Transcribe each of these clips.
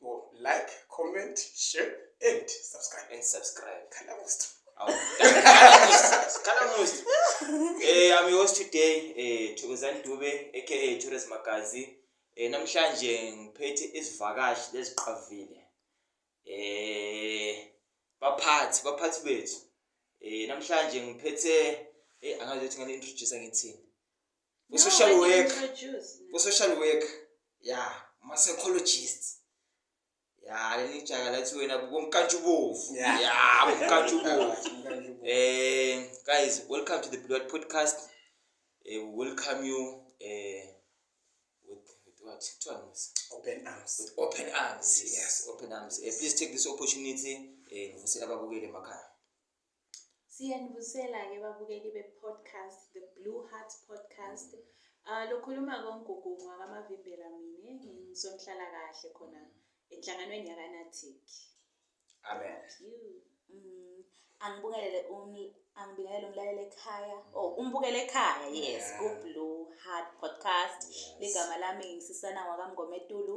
Go like, comment, share, and subscribe. and subscribe Khala Musta. Kalamuzi. Eh I'm your host today eh Thokozani Dube aka Chores Magazi. Eh namhlanje ngiphethe isivakashi leziqavile. Eh baphathi baphathi bethu. Eh namhlanje ngiphethe eh angazi ukuthi ngani introduce ngithini. ku social work ku social work ya ma psychologist ya leli jaka lathi wena kumkantshubovu ya kumkantshubovu eh guys welcome to the blood podcast eh, we welcome you eh with with what two arms open arms with open arms yes open arms eh, please take this opportunity eh ngifisela ababukeli emakhaya Siyanibusela-ke babukeli be-podcast The Blue Heart Podcast. Uh, lokhuluma kongugungu wakamavimbela mina ngisonhlalakahle khona enhlanganweni yakanatic amen mm, angibukele um, angibingelele umlaleli ekhaya oh umbukele ekhaya yes ku-blue heart podcast ligama lami ngisisana wakamngometulu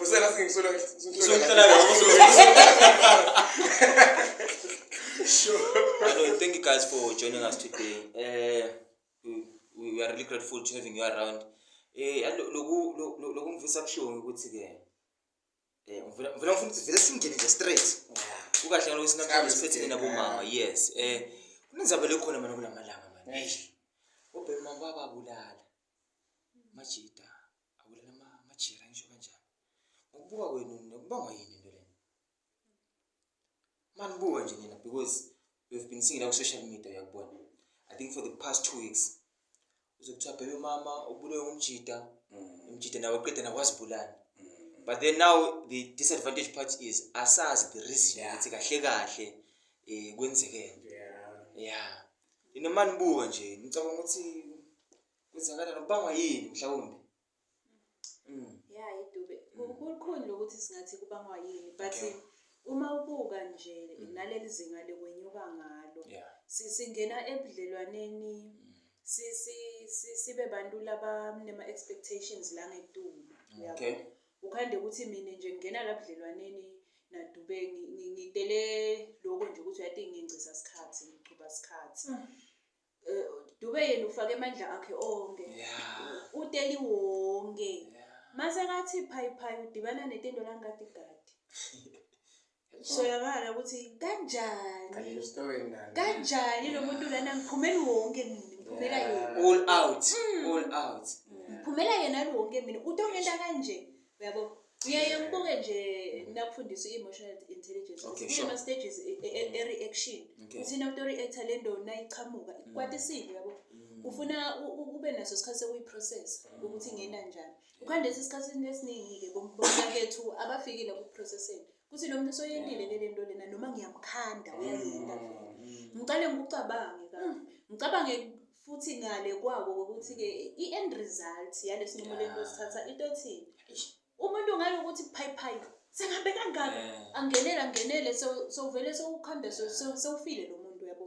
Usela singisolo singisolo. Sure. Hello, thank you guys for joining us today. Uh, we, we are really grateful to having you around. Eh, loku loku ngivisa kushongo ukuthi ke eh ngivela ngifuna ukuthi vele singene nje straight. Ukahle ngalo sinakho siphethe nabo mama. Yes. Eh kunenzaba lekhona mina kulamalanga manje. Ubhema baba bulala. Majita. Awulana ma majira ngisho kanjani. Ngokubuka kwenu nokubangwa yini into lena? Manibuka nje nina because we've been seeing like social media yakubona. I think for the past two weeks uzokuthiwa bhebe mama ubulewe umjita mm. umjita nawe qeda nakwazibulala mm. but then now the disadvantage part is asazi the reason yeah. ukuthi kahle kahle eh kwenzekeni yeah yeah inomani buka nje ngicabanga ukuthi Kwenzakala nokubangwa yini mhlawumbe? Mm. Yeah, idube. Kukhulu lokuthi singathi kubangwa yini but Okay. uma ubuka nje Mm. naleli zinga lekwenyuka ngalo Yeah. si- singena ebudlelwaneni Mm. si- si- si- sibe bantu labanema-expectations la ngetulu uyabo? Okay. ukhande ukuthi mina nje ngingena la budlelwaneni nadube ngi- ngi- ngitele loko nje ukuthi uyati ngingcisa sikhathi ngiqhuba sikhathi Mm. Eh, Dube yena ufake amandla akhe onke. Yeah. Uteli wonke. Yeah. Mase kathi phayi phayi udibana netendo langati gadi. So yabala ukuthi kanjani? Kanjani story ngani? Kanjani lo muntu lana ngiphumela wonke mina, ngiphumela Yeah. yena. All out. Mm. All out. Ngiphumela yena wonke mina. Uthi ongenta kanje. Uyabo? uyaye ubuke nje nakufundisa i-emotional intelligence Okay, sure. kunama-stages e- e- e- e-reaction Okay. Mm. uthi nawuto-reacta le nto nayiqhamuka ikwatisile yabo ufuna u- u- ube naso isikhathi sokuyiprocessa Mm. ukuthi ingena njani ukhande lesi sikhathini esiningi-ke bomnakethu abafikile kuprocesseni kuthi lo muntu usoyendile ke le nto lena noma ngiyamkhanda uyayenda vele ngiqale ngikucabange ka ngicabange futhi ngale kwako ukuthi-ke i-end result yale sinqumo lento sithatha into ethini umuntu ngale ukuthi phayiphayi sengabe kangaka angenele angenele sewuvele sewukhanda sewufile lo muntu uyabo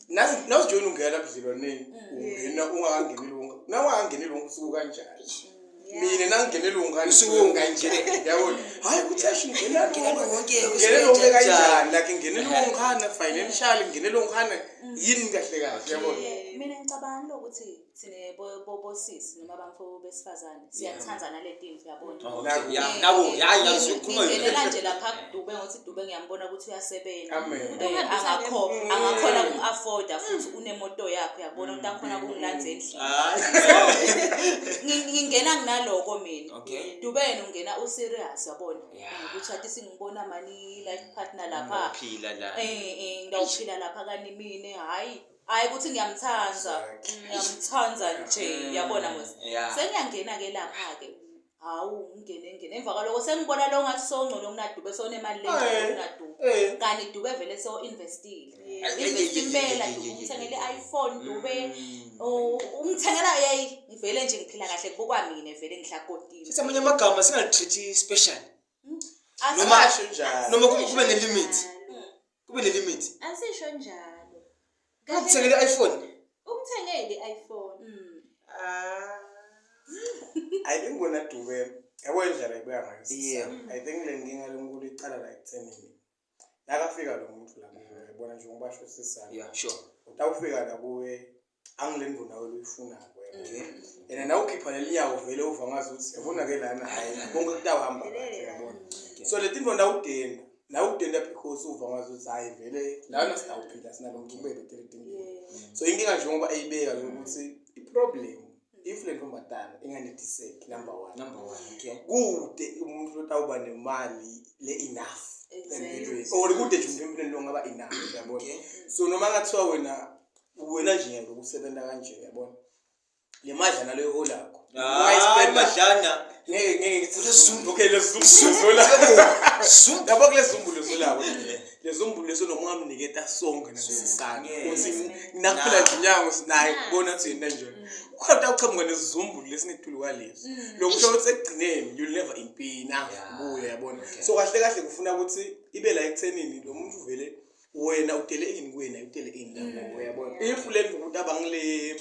nazi nazi join ungena budlelwaneni mm. ungena ungakangeneli wonke nawe angeneli wonke usuku kanjani mm, mina nangingeneli wonke usuku ungangene yabona hayi ukuthi asho ngena wonke ngeneli wonke kanjani like ngeneli mm. wonke financial ngeneli wonke yini kahle kahle yabona mina ngicabanga ukuthi thina bo- bo- bosisi noma bamfo besifazane siyathanda nalento into yabona Oh, okay. Naku- Yeah, naku, hhayi, yazi Ngithi- usukhuluma yona. ngingenela nje lapha kudube ngothi dube ngiyambona ukuthi uyasebenza Amen. Eh, Uhambisa angakho- le- angakhona Mm. uku-afforda futhi unemoto yakho uyabona ukuthi akhona kungilandza endlini Hhayi. Ngi- ngingena nginaloko mina Okay. dube yena ungena userious yabona Yeah. ukuthi athi singibona mani life partner lapha Uphila la. Eh, eh, ngawuphila lapha kani mina hhayi hayi ukuthi ngiyamthanda mm, ngiyamthanda nje mm, yabona mos sengiyangena ke lapha-ke hawu ngingene ngene emva kwaloko sengibona lo ngathi sowungcono kunadube sewunemali le kunadube eh. kanti dube vele sewo-investile investi impela dube umthengele i-iphone dube mm. umthengela yeyi ngivele nje ngiphila kahle kubukwa mina vele ngihlakotile sithi amanye amagama singatreat-i special noma kube ne-limit kube ne-limit asisho njalo ukuthengele i-iphone umthengele i-iphone Mm. Ah. ayi bengibona dube yabo indlela ibuya ngayo sisi. Yeah. i think le nkinga lonkulu iqala la ekuthenini nakafika lo muntu la kuwe yabona njengoba basho sisana yeah sure utawufika la kuwe angileni bona wena uyifuna and nawe ukhipha leli nyawo vele uva ngazi ukuthi yabona ke lana hayi konke kutawuhamba kahle yabona so le tinto nawudenda nawudenda because uva ngazi ukuthi hayi vele lana sitawuphila sinalo mgcubeko teletinto so inkinga nje ngoba eyibeka ukuthi iproblem if le ntombazana inganethiseki number one number one okay kude umuntu lotawuba nemali le enough or kude nje umuntu empilweni longaba enough yabona so noma ngathiwa wena uwena nje ngeke ukusebenza kanje yabona le madlana leyo holakho madlana ngeke ngeke ngithi lezumbu okay lezumbu lezolakho yabo kule zumbu lezolakho lezombulu leso noma ungamnike tasonke nasisana ukuthi nakuphela nje inyango sinaye kubona ukuthi yena nje ukhona uqhamuka nezizumbulu lesinethulu kwalezi lokusho ukuthi ekugcineni you'll never impina kuye yabona so kahle kahle kufuna ukuthi ibe la ekuthenini lo muntu uvele wena udele ini kuwena udele ini la mm. uyabona if le ndokuthi abangile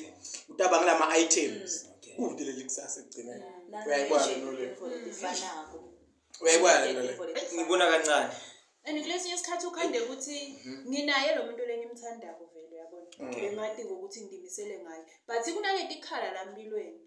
ukuthi abangile ama items mm. udele likusasa ekugcina mm. uyayibona lole uyayibona lole ngibona kancane and kulesinye isikhathi ukhande ukuthi mhm. nginaye lo muntu lengimthandayo vele uyabona ngimati ngokuthi ngimisele ngayo but kunaleti khala la mpilweni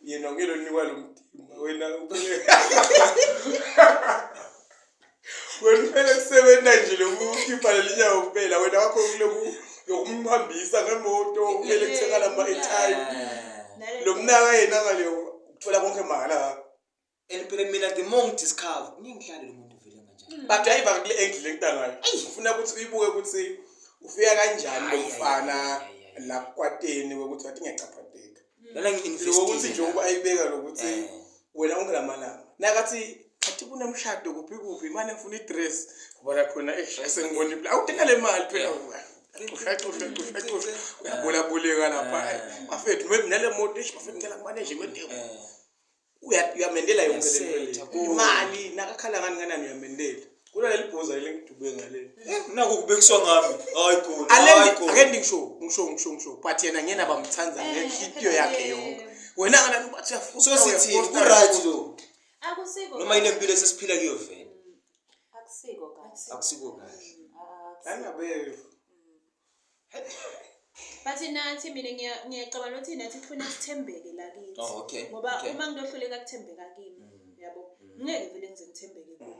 yena ngeke lonikwa lo mdimba wena wena kumele kusebenza nje lokukhipha leli nyawo kuphela wena wakho kuloku yokumhambisa ngemoto kumele kuthekala ama-etime lo mnaka yena ngaleyo uthola konke mahhala And phela mina the more ngidiscover ngiyengidlale lo muntu vele kanjani. Mm. But hayi bakule angle lentangayo. Ufuna ukuthi uyibuke ukuthi ufika kanjani umfana la kwateni ukuthi wathi ngiyachaphadeka. Mm. Lana ngi-invest ukuthi nje uba ayibeka lokuthi eh. wena ungelamalanga. Nakathi athi kunemshado kuphi kuphi imane ngifuna i-dress ubona khona esengibona ibla awudinga le mali phela uyabolabuleka lapha bafethu nale moto ish bafethu ngicela kumaneje kwendeko Uya- uyamendela yonke le Uyasetha, nto le. konke. imali nakakhala ngani nganani uyamendela kula leli bhoza leli ngidube ngaleli naku kubekiswa ngami hayi khona hayi alendi khona ake ndingisho ngisho ngisho ngisho but yena ngiyena abamthanda Eh, ngenhliziyo phela yakhe yena. yonke wena ngana uba siyafuna so sithini uyaposta, ku-right uyaposta. lo Akusiko. noma yile mpilo esesiphila kuyo vele Akusiko kahle. akusiko kahle Akusiko. Ngangabe Bathi nathi mina ngiya- ngiyacabanga ukuthi nathi kufuna sithembeke la kithi. Oh, okay, Ngoba okay. uma ngiyohluleka kuthembeka kimi, Mm. yabo. Ngeke vele ngize ngithembeke kuwe.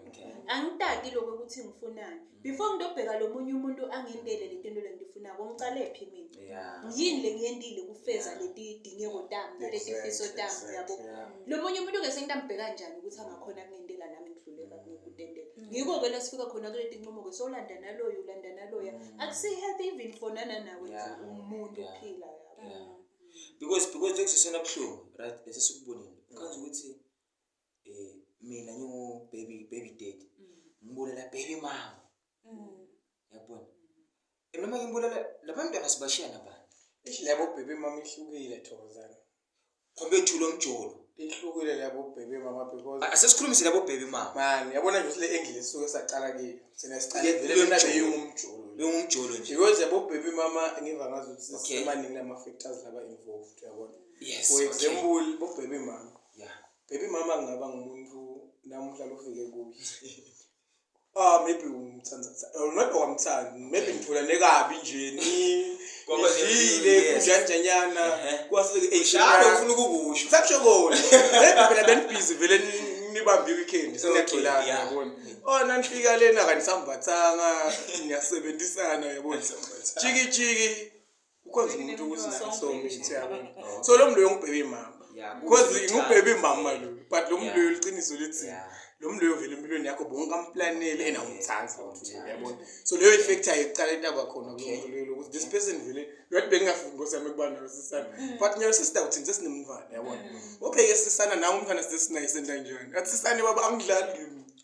Okay. Angitaki lokho ukuthi ngifunani. Before ngidobheka lo munye umuntu angentele le nto le ngifunako, ngicale phi mina? Yeah. Yini le ngiyentile kufeza Yeah. leti dingeko tami, naleti Exactly, fiso tami, exactly, yabo. yeah. Lo munye umuntu ke sengitambheka njani ukuthi angakhona kungentela nami ngidluleka kutendela. ngiko-ke la sifika khona kule tinqumo-ke solanda naloyo ulanda naloya mm. akusi-healthy even for nananawe umuntu uphila because because njengisesona buhlungu right bese sikubonile ukhazi ukuthi um mina ngingu-baby baby dad mm. ngibonela baby mama mm. yabona Noma ngimbulala labantwana sibashiya nabani? Eish labo bhebe mama ihlukile thokozana. Khombe ethu lomjolo. Ihlukile labo bhebe mama because A- Asesikhulumise labo bhebe mama. man yabona nje ukuthi le angle esuke saqala kiyo. Sina siqale Ye- vele lona lomjolo. beyingumjolo. Lo ngumjolo nje. Because yabo bhebe mama ngiva ngazi ukuthi Okay. sisemaningi lama factors laba involved yabona. Yes. For okay. example bo bhebe mama. Yeah. Baby mama ngaba ngumuntu namuhla lofike kuye. Ah maybe umthanda maybe wamthanda maybe ngitholane kabi nje ni Kwaba ngizile yes. kunjanjanyana Ehhe. kwase Shalo ufuna ukukusho. Sakusho kona. Maybe phela benibhizi vele ni- nibambe i-weekend seniyagcilana Okay, yeah. yabona. Oh nanifika lena kanisambathanga niyasebenzisana yabona. Jiki jiki Ukhonza umuntu ukuthi naye somithi yabo. So lo mloyo ngibhebe imama. Yeah, Because kuwukuthi ngubhebe uthanda. imama lo. But lo mloyo Yeah. liqiniso lithi Yeah. lo mloyo vele empilweni yakho bonke amplanele ena umthanda. Awumthandi. Yabona. So leyo effect ayiqala intaba khona Okay. kulo mloyo ukuthi this person vele ngathi bengingafuni ngosami kuba nayo sisana. But nyawo sisida uthini sesinemntwana yabona. Obheke sisana nawe umntwana sesinaye sentanjani. Athi sisane baba angidlali.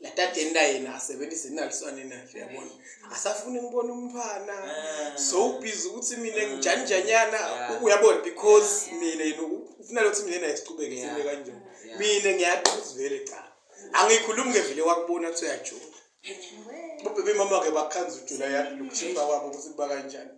latadeni la yena asebenzise inaliswane nahle yabona asafuni ngibona umntwana ah. so ubhizi ukuthi mina ngijanijanyana uyabona because mina yena ufuna lokuthi mina naye siqhubeke sime kanjani mina ngiyaqhuza vele cha angikhulumi ngevele wakubona ukuthi uyajola ubebe mama ke bakhanza ujula yakhe lokuthimba kwabo ukuthi kuba kanjani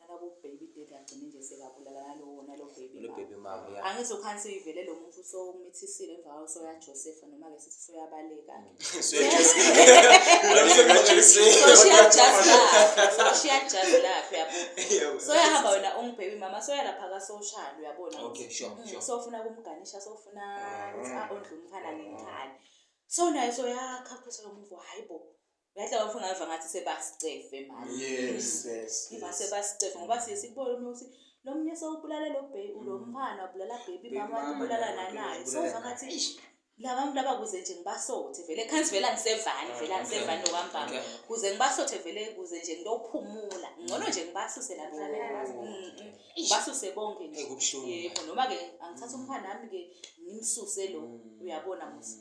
nalabo baby daddy agcine nje sekabulala nalowo nalo baby Lo baby mama mama, yeah. angithi ukhansi uyivele lo muntu usowumithisile emva kwawo soyajosefa noma-ke sithi soyabaleka-ke soshiya jazi lakhe yabo soyahamba wena ungibhebi mama soyalapha kasoshali uyabona Okay, sure, Mm, sure. sofuna kumganisha sofuna Mm. ukuthi a-ondle umfana ngenkani so naye soyakhaphusa lo muntu hhayi bo Uyadla bafuna ngava ngathi sebasicefe manje. Yes, yes. Ngiva yes. sebasicefe ngoba siye sikubone uma uthi lo munye sewubulale lo baby lo Mm. mfana ubulala baby Baby mama mama ubulala naye, nanaye. ubulala Sova naye. ngathi "Eish, laba bantu laba kuze nje ngibasothe vele khansi vele angisevani vele Ah, angisevani okay. nokwambamba. Okay. Kuze ngibasothe vele kuze nje ngiyophumula. Ngcono nje ngibasuse la kuzane nazo. Mm, mm. Ngibasuse bonke nje. Ekubuhlungu. Yebo noma ke angithatha umfana nami ke ngimsuse lo. Mm. Uyabona musa.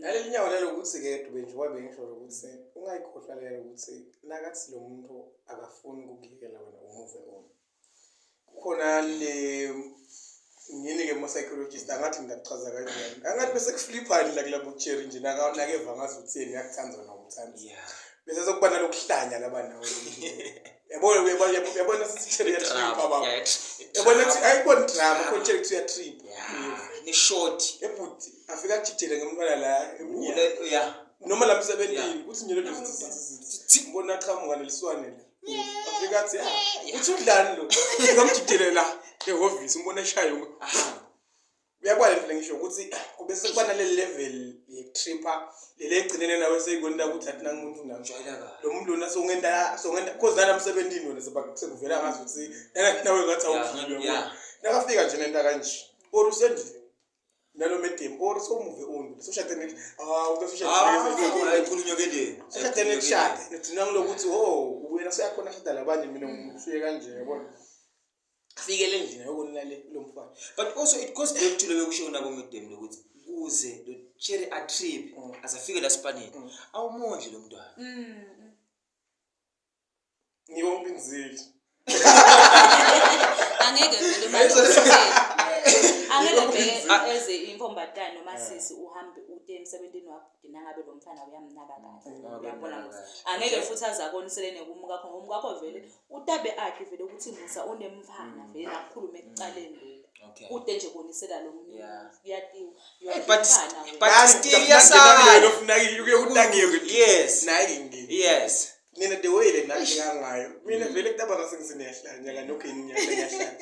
naleli nyawo lelo ukuthi-ke dube nje wabe ngisho ukuthi ungayikhohlwa lelo ukuthi nakathi lo muntu akafuni ukukuyekela wena umuve on kukhona le ngini-ke mo-psychologist angathi ngingakuchaza kanjani angathi bese kufliphani la kulabo cheri nje nakeva ngazi utheni yakuthanda wena ukuthanda bese sokuba nalokuhlanya laba nawe yabona yabona yabona sithele yatrip baba yabona ukuthi ayikona drama khona tshela ukuthi uyatrip ni short ebhuti afika ajijele ngemntwana la emnyama yeah noma la msebenzini ukuthi nje lento ngibona aqhamuka leliswane la afika athi ya uthi udlani lo ngamjijele la ehhovisi umbona eshayo ahamba uyabona into lengisho ukuthi kube sekuba nale level ye-tripper leli egcinene nawe seyikwenela ukuthi athi nangumuntu nawe Jwayela kahle. lo muntu lona songenta songenta cause nana emsebentini wena seba- sekuvela ngazi ukuthi nana- nawe ngathi Ya, awuphile ya. wena. nakafika nje nento kanje or usendlini nalo medium or somuve undi soshade ngithi ah uzoshade ayikhulunywa kendeni Ashade nekushada. Ngidina ngilokuthi oh wena seyakhona ashada labanye mina ngikusuye kanje yabona. afikele endlini yokunina le lo mfana but also it goes back to leyo kusho nabo medem lokuthi kuze lo cherry a trip mm. azafike la spanini mm. awumondli lo mntwana mm. ngiyonke inzili angeke vele angeke vele eze inkombatana noma sisi uhambe ude emsebenzini wakho nangabe lo mfana uyamnaka kahle uyabona angeke futhi aze akoniselene kumukakho ngomukakho vele Utabe akhe vele ukuthi Musa unemfana vele akhulume ekucaleni lokhu. Okay. Kude nje bonisela lo muntu. Yeah. Kuyatiwa. Hey, but Yomfana wena. but Last year Mina sa- nginamile uke unakiwe ukuthi Yes. nayi ngi Yes. nina the way le nathi kangayo mina vele kutaba ngase ngisinehla nyaka nokho yini nyaka ngiyahla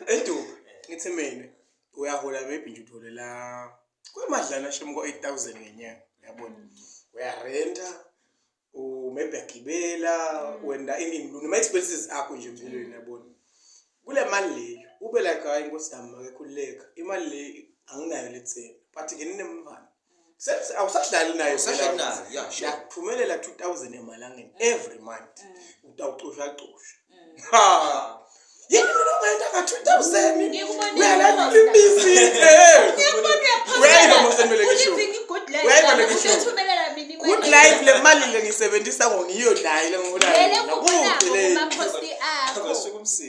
edu ngithi mina uyahola maybe nje utholela kwemadlana shem ko 8000 ngenyanga yabona uyarenta u maybe agibela mm. wenda ini noma expenses akho nje empilweni mm. yabona kule mali leyo ube like hayi inkosi yami makekhululeka imali le anginayo letheni but ke ninemvana mm. awusadlali nayo usashanayo yakuphumelela 2000 emalangeni every month utawucusha cusha yini mina ongayenda ka-two thousand uyalala imizi good life le mali le ngisebenzisa ngo ngiyo nayo le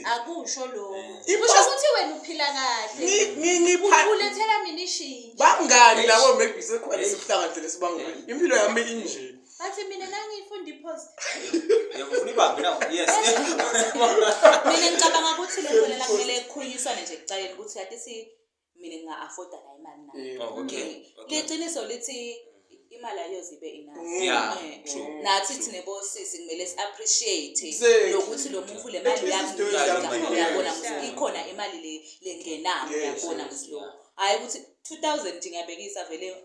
akusho lokho kusho ukuthi wena uphila kahlebangani labo maybe sekhona esikuhlanganisele sibangani impilo yami injeni Bathi mina nangifunda ipost. Ngiyakufuna ibanga na. Yes. Mina ngicabanga ukuthi le nto lena kumele kukhulunyiswane nje kucaleni ukuthi yathi si mina nginga afforda la imali na. Eh, Oh, okay. Okay. Liqiniso lithi imali ayozibe enough. Mm. Yeah, Eh, true. Nathi thina bosisi kumele si appreciate Exactly. lokuthi lo muntu le mali At least it's doing yakuyona something. uyabona Yes. ukuthi ikhona imali le lengenayo Yes, uyabona yes, ukuthi lo. yeah. Hayi ukuthi 2000 nje ngiyabekisa vele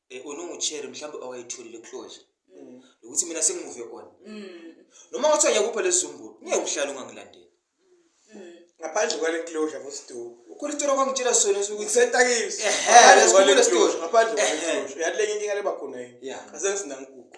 Eh, unungu-cherry mhlawumbe awayitholile closure Mm. nokuthi mina sengimuve on Mm. noma ngathi angiyakupha lezizumbulu ngeke uhlale ungangilandeli Mm. ngaphandle kwale closure bosiduku ukhona itoro kwangitshela sona ukuthi kusetakiso Ehhe, lesikhumbulo esikhulu. ngaphandle kwale Ehhe. closure uyathi lenye inkinga leba khona yini Yeah. asengisinankuku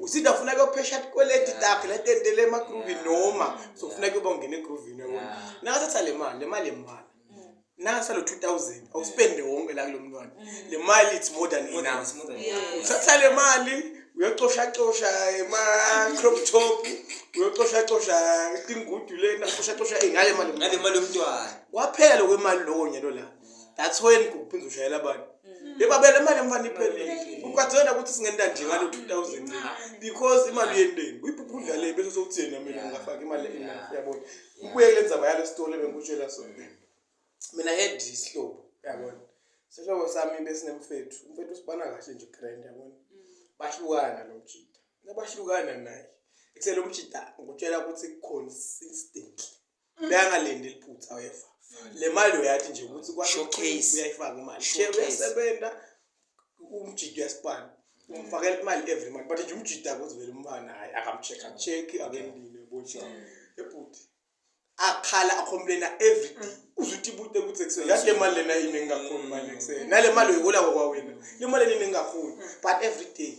usinda funa kuyophesha tikweleti takhe letentele emagruvi noma sofuna kuyoba ungena egruvini yabona nakathatha le mali le mali yemali nasa lo 2000 awuspende wonke la kulo mntwana le mali it's more than enough uthatha le mali uyocoshacosha ema-crop top uyocoshacosha tingudu lena coshacosha ngale mali ngale mali yomntwana kwaphela lokwemali lowo nyalo la that's when kuphinde ushayela abantu mm. bebabele imali emfana iphelile ukwathena ukuthi singenta nje ngalo 2000 because imali yendeni uyibhubha udlale bese sokuthi yena mina ngafaka imali enough yabona ubuye kule ndzaba yalo sitole bengikutshela sona mina head isihlobo yabona sihlobo sami besinemfethu umfethu usibana kahle nje grand yabona mm. bahlukana lo mjita nabahlukana naye ekusele umjita ngikutshela ukuthi consistently Mm. beyangalindi liphutha wefa le mali uyathi nje ukuthi Showcase. uyayifaka imali Showcase. share uyasebenza umjidi uyasipana umfakela imali every month but nje umjidi akuthi vele umfana hayi akamcheck acheck akendile bonje ebhuti akhala akhomplena every day uzuthi ibute ukuthi ekuseni yathi le mali lena yini engingakhoni mali ekuseni nale mali uyihola kwakwawena le mali lena engingakhoni but every day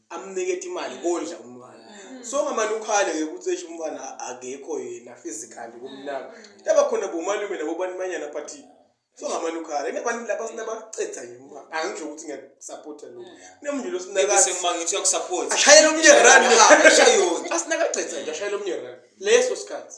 amnikete imali kondla umntwana mm. so ngamane ukhale ke ukuthi esho umntwana akekho yena physically kumnaka mm. yaba khona bomalume nabo banimanyana but so ngamane ukhale ngabantu laba sinabacetha yini uma angisho ukuthi ngiyasupporta lo mm. nemndilo sinaka sengima ngithi uyakusupport ashayela umnye run ha ashayona asinakacetha nje ashayela umnye run leso sikhathi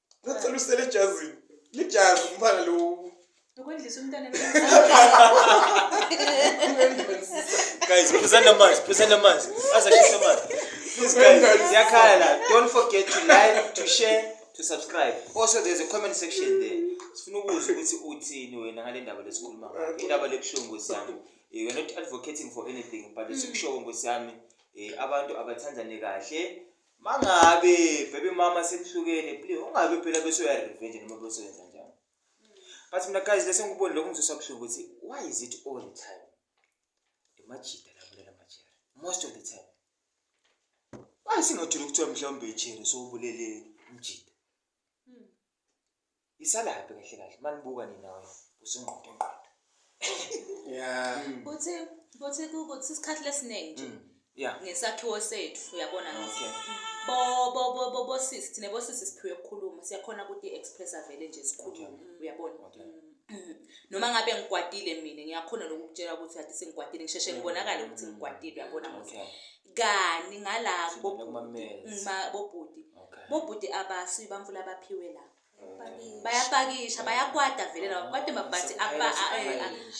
Ngicela usele ejazini. Lijazi umfana lo. Ukwendlisa umntana Guys, phuzani amanzi, phuzani amanzi. Azashisa amanzi. Please guys, ziyakhala la. Don't forget to like, to share, to subscribe. Also there's a comment section there. Sifuna ukuzwa ukuthi uthini wena ngale ndaba lesikhuluma ngayo. Indaba lebuhlungu Nkosi yami. Eh, We're not advocating for anything but sikushowo Nkosi yami. Eh, abantu abathandane kahle. Mangabe baby mama senihlukene please ungabe phela bese uya revenge noma bese wenza njani. But mina guys lesi ngikuboni lokho ngizoswa buhlungu ukuthi why is it all the time? Imajita labulela majera most of the time. Why singathula ukuthiwa mhlawumbe ijere sowubulele umjita? isalaphi kahle kahle manibuka nina usingqondo ngqondo yeah uthi uthi ukuthi isikhathi lesiningi nje mm, yeah ngesakhiwo sethu uyabona okay bo bo bo bo bo sis thina bo sis siphiwe ukukhuluma siyakhona ukuthi express avele nje sikhulume uyabona okay mm. noma ngabe ngikwatile mina ngiyakhona lokukutshela ukuthi athi sengigwadile ngisheshe ngibonakale ukuthi mm. ngikwatile uyabona ukuthi kani ngala bobhuti bobhuti abasuyi bamfula abaphiwe lapha bayapakisha bayakwata vele laba kwade mabhathi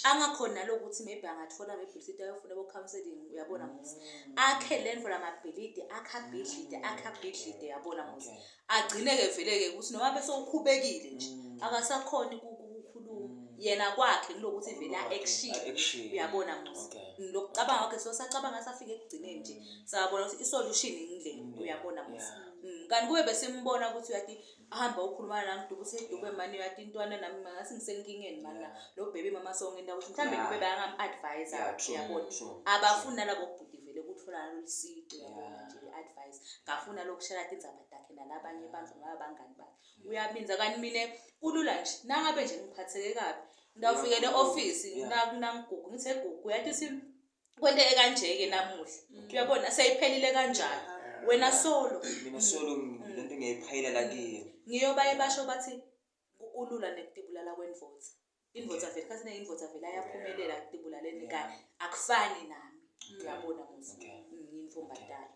angakhoni nalokuthi maybe angathola mebhilidi ayofuna bo-counseling uyabona muthi mm. akhe le nto la mabhilidi akhabhidlide mm. akhabhidlide yabona muthi agcine-ke vele-ke ukuthi noma bese ukhubekile nje mm. akasakhoni ukukhuluma yena kwakhe kulokuthi vele a-action uyabona muthi lokucabanga kwakhe so sacabanga safike ekugcineni nje sabona ukuthi i-solution yindlela uyabona muthi kanti kube besimbona ukuthi uyathi ahamba ukhuluma nami dube usedube mani yathi intwana nami ngasi ngisenkingeni mana lo baby mama sonke into ukuthi mhlawumbe dube bayangam advise yabona abafuni nalabo kubhuti vele ukuthola lolu sici yabona nje advice ngafuna lokushela indzaba dakhe nalabanye abantu ngaba bangani bakhe uyabinza kanti mina kulula nje nangabe nje ngiphatheke kabi ngawufikele office nakuna ngigugu ngithe gugu yathi kwento ekanjeke namuhla mm. uyabona seyiphelile kanjalo wena solo mina solo lento ngiyayiphayela la kiyo ngiyobaye basho bathi kulula nekutibulala kwendvodza indvodza vele khathi neyindvodza vele ayaphumelela kutibulaleni kanye akufani nami uyabona muzi ngiyintombadala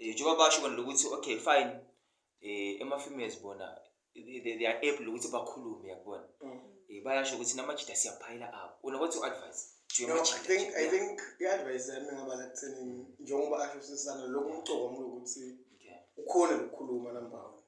um njengoba basho bona lokuthi okay fine um ema-females bona they are able ukuthi bakhulume yakubona um mm. bayasho ukuthi namajida siyaphayela abo una what you advise No, I think I think i-advice yami ngaba la kuthenini njengoba asho sisana lokhu umcoka mlo ukuthi ukhona lokukhuluma number one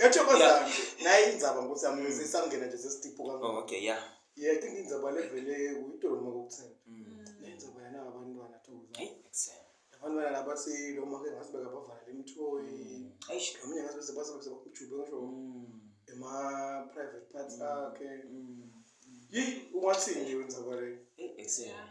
yathokozani naye indzaba nkosi yami ngize isangena nje sesitiphu kangaka Oh, okay, yeah. yeah i think indzaba levele uyidoloma kokuthini Mm. le ndzaba yana abantwana thokozani Hey, excellent. abantwana laba silo make ngathi bekabavala lemthoyi Mm. Eish. lo mnye ngathi bese base bese bakumjube ngisho Mm. ema private parts akhe Mm. yi ungathini nje indzaba le Hey, excellent.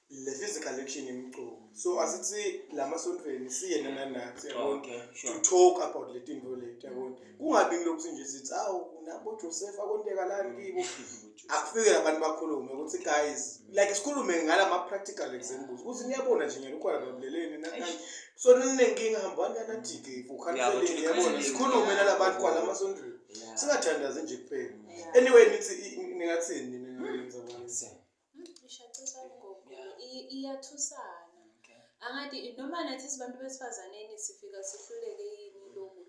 le physical action yemculo so asithi la masontweni siye nana nathi yabona Okay, to sure. talk about le tinto leti yabona kungabi ngilokhu sinje sithi awu nabo Joseph akonteka lani kibo akufike abantu bakhulume ukuthi guys like sikhulume ngala ma practical examples ukuthi niyabona nje ngeke ukhona babuleleni nakanye so ninenkinga hambani kanadike Yabo, ukhanseleni to the yabona counseling. sikhulume nalabantu kwala masontweni Yeah. singathandazi nje kuphela Yeah. anyway nithi i- ningathini nina ngenza abantu? Nse. ishacisana ngoku iyathusana angathi noma nathi sibantu besifazaneni sifika sihluleke yini lokhu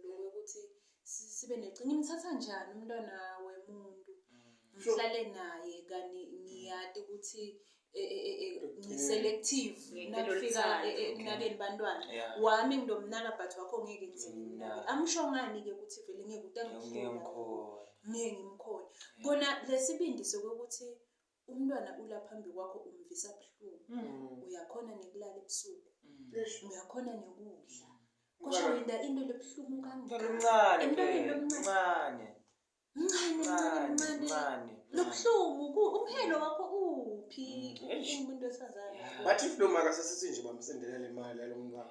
lokuthi sibe necinga imthatha njani umntwana wemuntu mm. ngihlale naye kani ngiyati ukuthi e, e, e, ngiselective nakufika ekunakeni bantwana wami nginomnaka but wakho ngeke ngizemnake mm. amsho ngani-ke ukuthi vele ngeke utangikhona Ngeke ngimkhole. Kona lesibindi sokuthi umntwana ula phambi kwakho umvisa buhlungu. Mm. Uyakhona nekulala ebusuku. Mm. Uyakhona nekudla. Kusho yinda into lebuhlungu kangaka. Mncane. Emntwaneni omncane. Mncane, mncane, mncane. Lobuhlungu umhelo wakho uphi? Mm. Umuntu wesifazane. Bathi if lo maka sesithi nje bamsendelela imali yalo mntwana.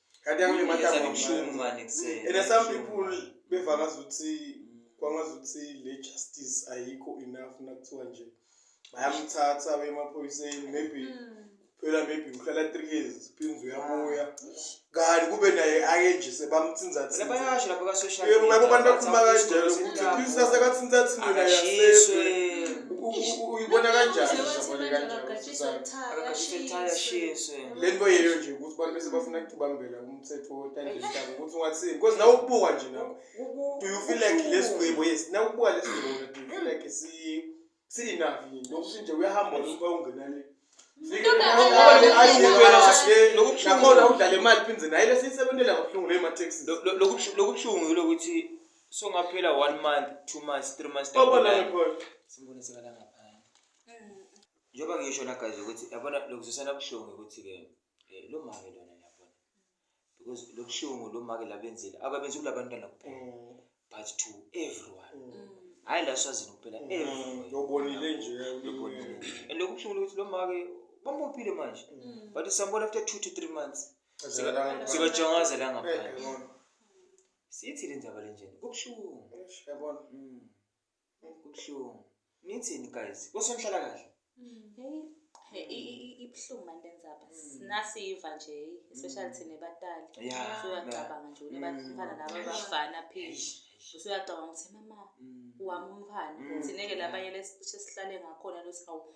kanti angile matanga ubuhlungu manje kusena and some people beva ngazi ukuthi kwangazi ukuthi le justice ayikho enough nakuthiwa nje bayamthatha bemaphoyiseni maybe mm. phela maybe uhlala three years phinzi uyabuya kanti kube naye ake nje sebamthinzathinzabayasho lapho ka-social media yebo abantu bakhuluma kanjalo ukuthi phinzi asekathinzathini wena yasezwe uyibona kanjani uyibona kanjani lento yeyo nje ukuthi abantu bese bafuna kubambela umthetho wotandihlaba ukuthi ungathini because nawe ukubuka nje nawe do you feel like lesigwebo yes nawe ukubuka lesigwebo do you feel like si si enough yini lokuthi nje uyahamba uba ungena le nakhona udlala imali phinde naye lesiyisebenzela kabuhlungu leyo ma-taxi lokubuhlungu yilokuthi songaphela one month two months three months simbone sekalangapha Njengoba ngisho na guys ukuthi yabona lokuzwisana buhlungu ukuthi ke eh, lo make lona yabona. Because lobuhlungu lo make labenzile akabenzi kula bantwana kuphela Mm, but to everyone. mm. Hayi la swazini kuphela Mm, everyone. Lobonile nje. Lobonile. And lokubuhlungu ukuthi lo make bambophile manje. Mm. But sambona after 2 to 3 months. Sika- Sikajongaza la ngaphandle. Sithi le ndaba lenjena. Kubuhlungu. Yabona. Mm. Kubuhlungu. Nithini guys? Kosonhlala kahle. Hey, i- i- i- ibuhlungu manje lenzaba sinasiva nje especially thina ebatali Yeah, usuyacabanga nje Mm. unebafana laba abafana pheli usuyacabanga ukuthi mama Mm. wami umfana thina-ke labanye lesicishe sihlale ngakhona losi awu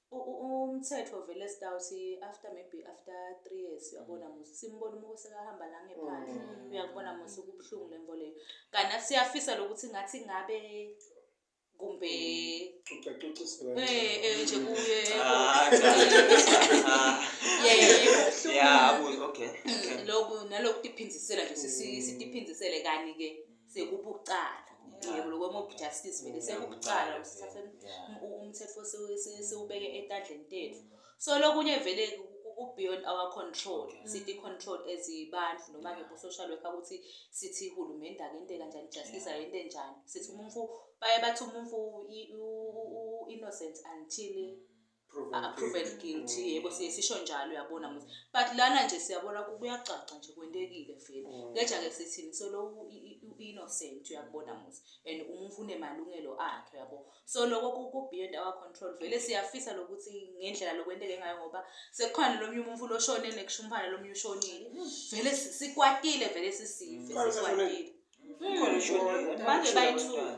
Umthetho vele stout after maybe after three years uyabona mm. musa simbona umuko sekahamba la ngephandle mm. uyakubona musa ukubuhlungu le nto leyo kanti nathi siyafisa lokuthi ngathi ngabe kumbe mm. eh, eh, nje kuye ah, ah. loku naloku tiphindisela nje sitiphindisele kani-ke sekubucala yebo lokwemob justice vele sekubucala umthetho siwubeke etandleni tethu so lokunye vele ku-beyond our control sithi control as abantu noma-ke bo-social worker ukuthi sithi hulumende akente kanjani justice ayente njani sithi umumfu baye bathi umumfu u-innocent until proven ah, proven guilty. guilty Mm. yebo siye sisho njalo uyabona muzi but lana nje siyabona ku- kuyacaca nje kwentekile vele Mm. ngeja ke sithini so lo u- i- i- u-innocent uyakubona muzi and umuntu unemalungelo akhe yabo so loko ku- ku beyond our control vele siyafisa lokuthi ngendlela lokwenteke ngayo ngoba sekukhona lomunye umuntu loshone nekushumpana lomunye ushonile vele si- sikwatile vele sisive Khona sikwatile Mm. Khona ushonile. manje bayi-two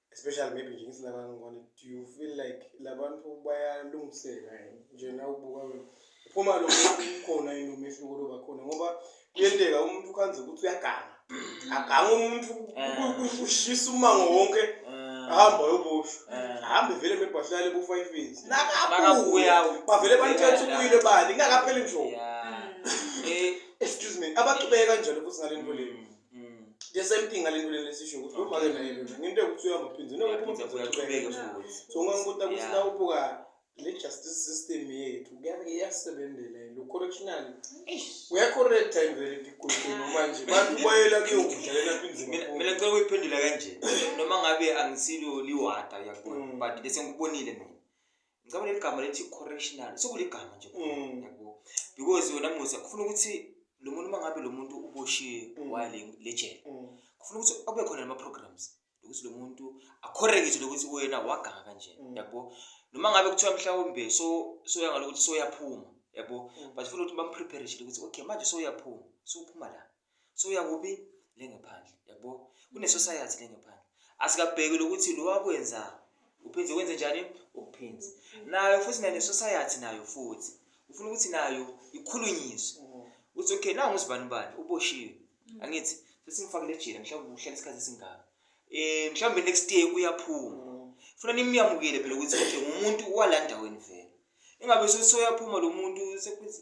especially maybe nje ngithi labanye ngibona do you feel like labantu bayalungiseka yini nje na ubuka wena phuma lo khona yini umehluko loba khona ngoba kuyenteka umuntu ukhanze ukuthi uyaganga aganga umuntu eh. ushisa umango wonke ahamba yobusho ahambe vele mebhahlale ku-five years nakabuya bavele banithetha ukuyile bani ingakapheli nje excuse me abaqhubeke kanjalo futhi ngale nto leyo the same thing ngale nto lena esisho ukuthi uma ke naye lona ngento yokuthi uyahamba phinde noma uphuma Uyaphinde futhi uqhubeke futhi. so ungangibuta ukuthi Yeah. nawubuka le justice system yethu kuya- iyasebenzela yini correctional uyacorrecta imvele iqulukulu manje bantu bayela kuyokudlalela apha inzima Mina mina ngicela ukuyiphendula kanje noma ngabe angisilo liwada uyakubona Mm. but bese ngikubonile mina ngicabanga leli gama lethi correctional sekuligama nje mm. yabo because wena musa kufuna ukuthi lo muntu uma ngabe lo muntu uboshiwe mm. wale lejele mm. kufuna ukuthi abe khona nama-programs ukuthi lo muntu akhorekiswe lokuthi wena waganga kanje yabo noma ngabe kuthiwa mhlawumbe so soya ngalokuthi soyaphuma yabo but funa ukuthi bamprepare shile ukuthi okay manje soyaphuma sophuma la so uyakuphi lengephandle yabo kune society lengephandle asikabheki lokuthi lo wakwenza uphinde wenze njani ukuphinde nayo futhi nale society nayo futhi ufuna ukuthi nayo ikhulunyiswe uthi okay nawu ngizibani ubani uboshiwe angithi sesingifakile ejele mhlawumbe uhlala isikhathi esingaka eh mhlawumbe next year uyaphuma funa nimyamukele phela ukuthi nje umuntu walandaweni vele ingabe soyaphuma lo muntu sekwenza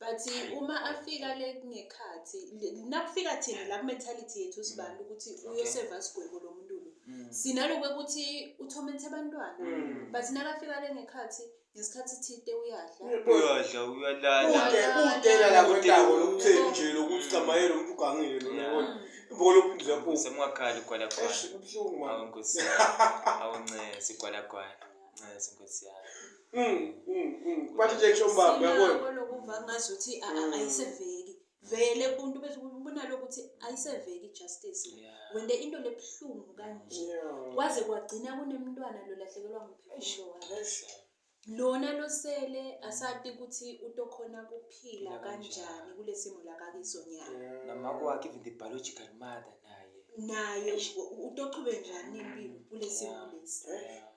but uma afika le kungekhathi nakufika thina la ku-mentality yethu sibantu ukuthi uyoseva sigwebo lo muntu lo mm. sinalokhu ukuthi uthomenthe abantwana mm. but nakafika le ngekhathi ngesikhathi thide uyadla uyadla uyalalaudela la kwendawo lokutheni nje lokuthi camaye lo muntu ugangile lona kodwa ibokolophinduzwa kubo semungakhali ugwalagwala awu nkosi awu ncese igwalagwala ncese nkosi yami Mm, mm, mm. Kubathi nje kusho umbaba uyabona. Sinako lokuva ngazuthi a- a- Mm. ayiseveki. Vele umuntu bese ubona lokuthi ayiseveki justice. Yeah. Wende into lebuhlungu kanje. Yeah. Kwaze kwagcina kunemntwana lo lahlekelwa ngumphefumulo wakhe. Yes. Lona losele asati ukuthi utokhona kuphila Phila kanjani. kanjani kulesimo lakakiso nyana. Yeah. Namako wakhe even the biological mother naye. Naye u- utochube njani impilo kulesimo lesi. Yeah.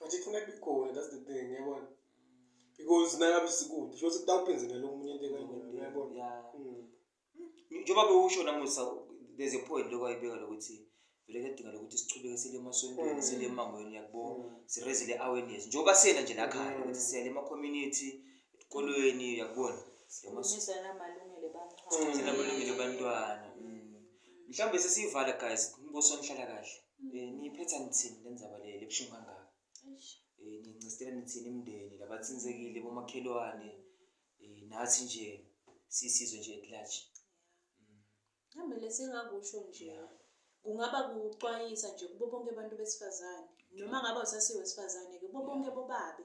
but ifuna kube khona that's the thing yabona because nangabe sikude sho sekutawuphenzelela omunye into ekangeni yabona mm. njengoba bewusho namusa there's a point lokho ayibeka lokuthi vele kuyadinga lokuthi sichubeke sile emasontweni mm. sile emangweni uyakubona mm. sireze le awareness njengoba siyena nje la khaya ukuthi siyale ema-community esikolweni uyakubona sinamalungelo ebantwana mhlawumbe sesiyivala guys umbuso nihlala kahle Eh, niyiphetha nithini le ndzaba le lebuhlungu kangaka Eh, niyincistela nithini imndeni labathintekile bomakhelwane Eh, nathi nje siyisizwe nje at large Mhlawumbe lesingakusho nje Yeah. kungaba kuxwayisa nje kubo bonke abantu besifazane noma ngabe usasiwe wesifazane-ke kubo bonke bobabe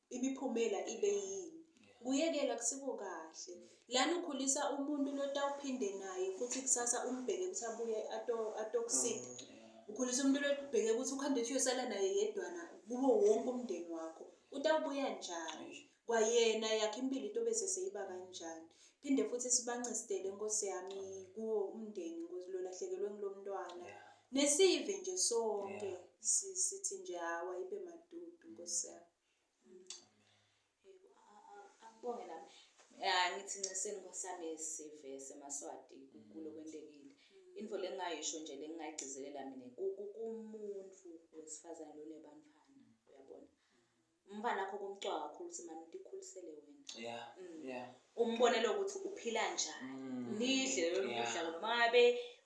imiphumela ibe yini kuyekela kusiko kahle lana ukhulisa umuntu lotawuphinde naye futhi kusasa umbheke ukuthi abuye atokusida mm. ukhulisa umuntu lobheke ukuthi ukuhambe uthi uyosala naye yedwana kubo wonke umndeni wakho utawubuya njani kwayena yakhe impilo into bese seyiba kanjani phinde futhi sibancistele nkosi yami kuwo umndeni nkosi lolahlekelwe ngilomntwana yeah. nesive nje sonke Yeah. si- sithi nje hawu ayibe madudu nkosi yami Akubonge nami. Ya ngithi nceseni nkosami sive semaswati kulo kwentekile. Info lengayisho nje lengayigcizelela mina ku- ku- kumuntu wesifazane lonebantwana uyabona. umfana wakho kumcwa kakhulu ukuthi mani ndikhulisele wena yeah mm. yeah umbonele ukuthi uphila njani mm. nidle lelo kudla noma ngabe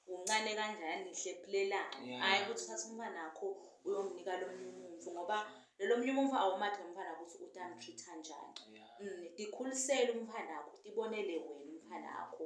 uncane kanjani nihle philelana hayi ukuthi uthathe umfana wakho uyomnika lo munye umuntu ngoba lelo munye umuntu awumathi ngomfana ukuthi utamtreat kanjani mm, ndikhulisele umfana wakho ndibonele wena umfana wakho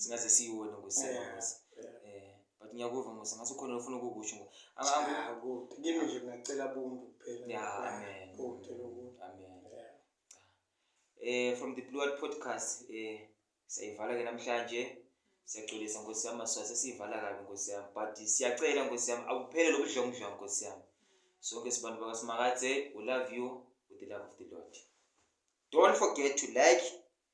singaze siyiwone ngokusema ngosi eh but ngiyakuva ngosi ngathi ukhona ofuna ukukusho ngo akuthi ah, kimi nje ngacela buntu kuphela ya amen ngicela ubuntu amen eh from the blue podcast eh sayivala ke namhlanje siyaxolisa nkosi yami maswa sesiyivala kabi nkosi yami but siyacela nkosi yami akuphele lokudlongudlonga nkosi yami sonke sibantu bakaSimakadze we love you with the love of the Lord don't forget to like